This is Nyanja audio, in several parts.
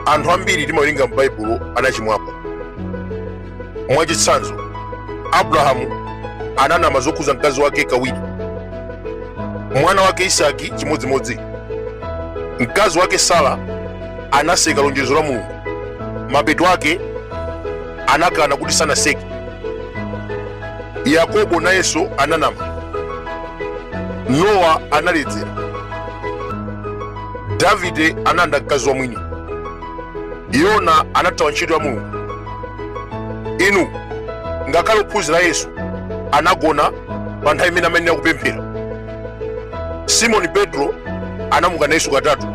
anthu ambiri timawerenga m'baibulo anachimwapo mwachitsanzo abrahamu ananama zokhuza mkazi wake kawiri mwana wake isaki chimodzimodzi mkazi wake sara anaseka lonjezo la mulungu mapeto ake anakana kuti sanaseke yakobo nayenso ananama nowa analedzera davide analanda mkazi wa mwini yona anathawa ntchito ya mulungu inu ngakhale ophunzira a yesu anagona pa nthawi imene amayenera kupemphera simoni petro anamukana yesu katatu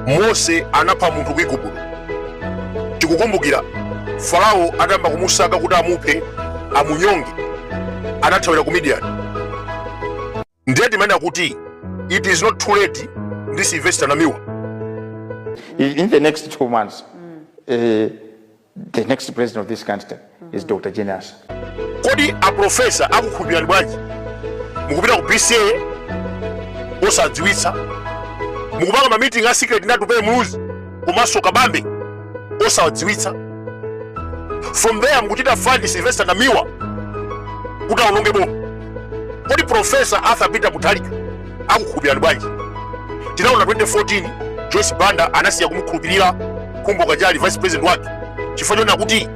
mose anapha munthu ku igupto tikukumbukira farao atayamba kumusaka kuti amuphe amunyonge anathawira ku midiyani ndiye timanena kuti it is not too late ndi silvester namiwa in the next two months, uh, the next president of this country is Dr. Jane Ansah. kodi aprofesa akukhulupirani bwanji mukupita ku bca osawadziwitsa mukupanga mamiting a secret ndi atupele muluzi komanso kabambe osawadziwitsa from there mukuchita fund silvester namiwa kuti aononge boma kodi profesa arthur peter mutharika akukhulupirani bwanji tinaona 2014 joyce banda anasiya kumukhulupirira khumbo kachali vice president wake chifukwa chonena kuti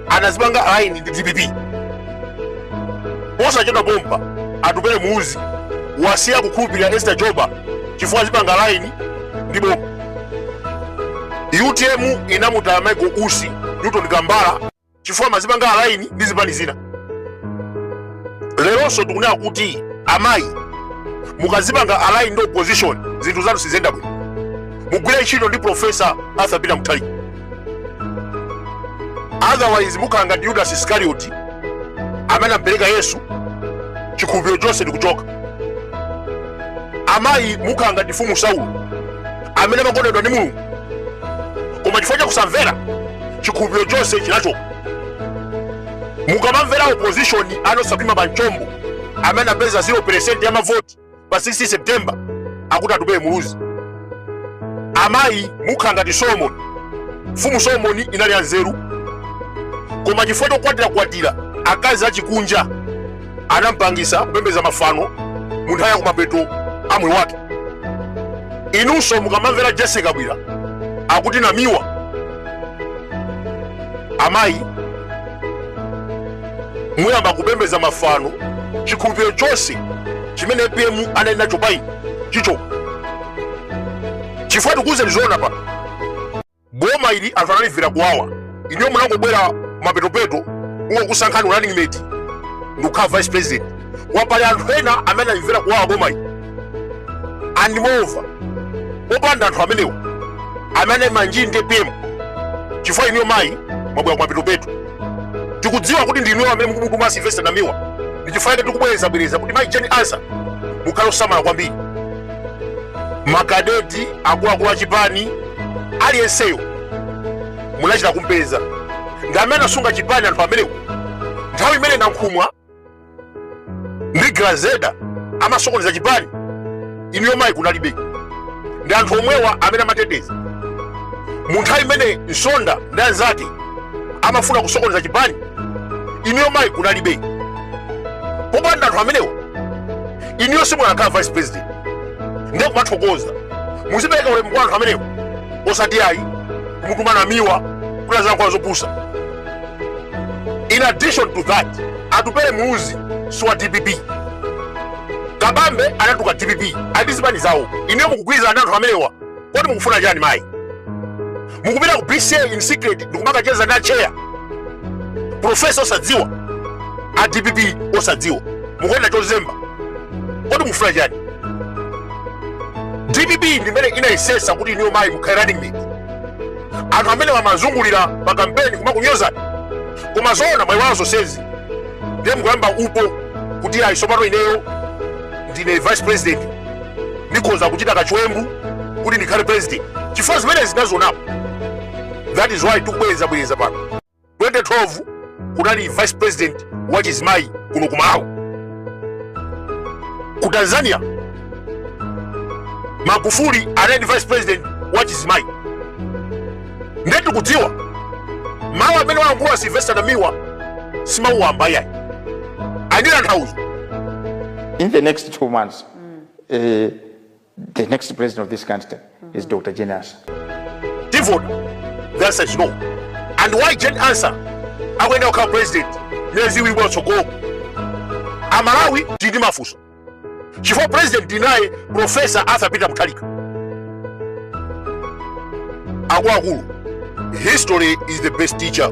anazipanga align ndi dpp posachedwa pompa atupele muluzi wasiya kukhulupirira esther jolobala chifukwa azipanga align ndi boma utm inamutaya michael usi newton kambala chifukwa amazipanga align ndi zipani zina leronso tikunena kuti amayi mukazipanga align ndi opposition zinthu zanu siziyenda bwino mugwire ntchito ndi profesa arthur peter mutharika otherwise mukhala ngati yudasi iskarioti amene anampereka yesu chikhulupiriro chonse ndikuchoka amayi mukhala ngati mfumu saulo amene amakondedwa ndi mulungu koma chifukwa chakusamvera chikhulupiriro chonse chinachoka mukamamvera opposition ana osakhwima pa mchombo amene apeza 0 percent ya mavoti pa 16 september akuti atupele muluzi amayi mukhala ngati solomoni mfumu solomoni inali ya nzeru koma chifukwa chokwatirakwatira akazi achikunja anampangisa kupembeza mafano munthawi yakumapeto amwe wake inunso mukamamvera jessie kabwira akuti namiwa amayi muyamba kupembeza mafano chikhulupiriro chonse chimene apm anali nacho payi chicho chifukwa tikuuzeni zoona pano Boma ili anthu analimvera kuwawa inuyo munangobwera mapetopeto kungokusankhani running mate ndikukhala vice president alipo anthu ena amene analimvera kuwawa boma ili and moreover popanda anthu amenewo amene amanjoya ndi pm chifukwa inuyo mayi mwabwera kumapetopeto tikudziwa kuti ndi inuyo amene mukumutuma silvester namiwa ndi chifukwa chake tikubwerezabwereza kuti mayi jane ansah mukhale osamala kwambiri makadeti akuluakulu achipani aliyenseyo munachita kumpeza ndi amene anasunga chipani anthu amenewo nthawi imene nankhumwa ndi grezelder amasokoneza chipani inuyo mayi kunalibe ndi anthu omwewa amene amateteza mu nthawi imene nsonda ndi anzake amafuna kusokoneza chipani inuyo mayi kunalibe popanda anthu amenewa inuyo simukanakhala vice president ndiye kumathokoza muzipereka ulemu kwa anthu amenewo osati ayi kumutuma namiwa kuti azilankhula zopusa in addition to that atupele muluzi si wa dpp kabambe anatuka dpp ali ndi zipani zawo inuyo mukugwirizana ndi anthu amenewa kodi mukufuna chani mayi mukupita ku bca in secret ndikumakacheza ndi acheya profesa osadziwa a dpp osadziwa mukuyenda chozemba kodi mukufuna chani dpp ndi imene inayesesa kuti inuyo mayi mukhale running mate anthu amene amazungulira pa kampeni kumakunyozani koma zoona mwaiwala zonsezi ndiye mukuyamba upo kuti ayi tsopano ineyo ndine vice president ndikhoza kuchita kachiwembu kuti ndikhale president chifukwa zimenezi tinazionapo that is why tikubwerezabwereza pano 2012 kunali vice president wa chizimayi kuno ku malawi ku tanzania magufuli anali ndi vice president wa chizimayi ndiye tikudziwa mawu amene wayankhula silvester namiwa si mawu wamba iyayi ali ndi tanthauzo in the next two months eh, the next president of this country is dr jane ansah tivota the answer is no and why jane ansah akuyenera kukhala president miyezi iwiri kwatsogolo amalawi tili ndi mafunso chifukwa president tinaye profesa arthur peter mutharika akuluakulu history is the best teacher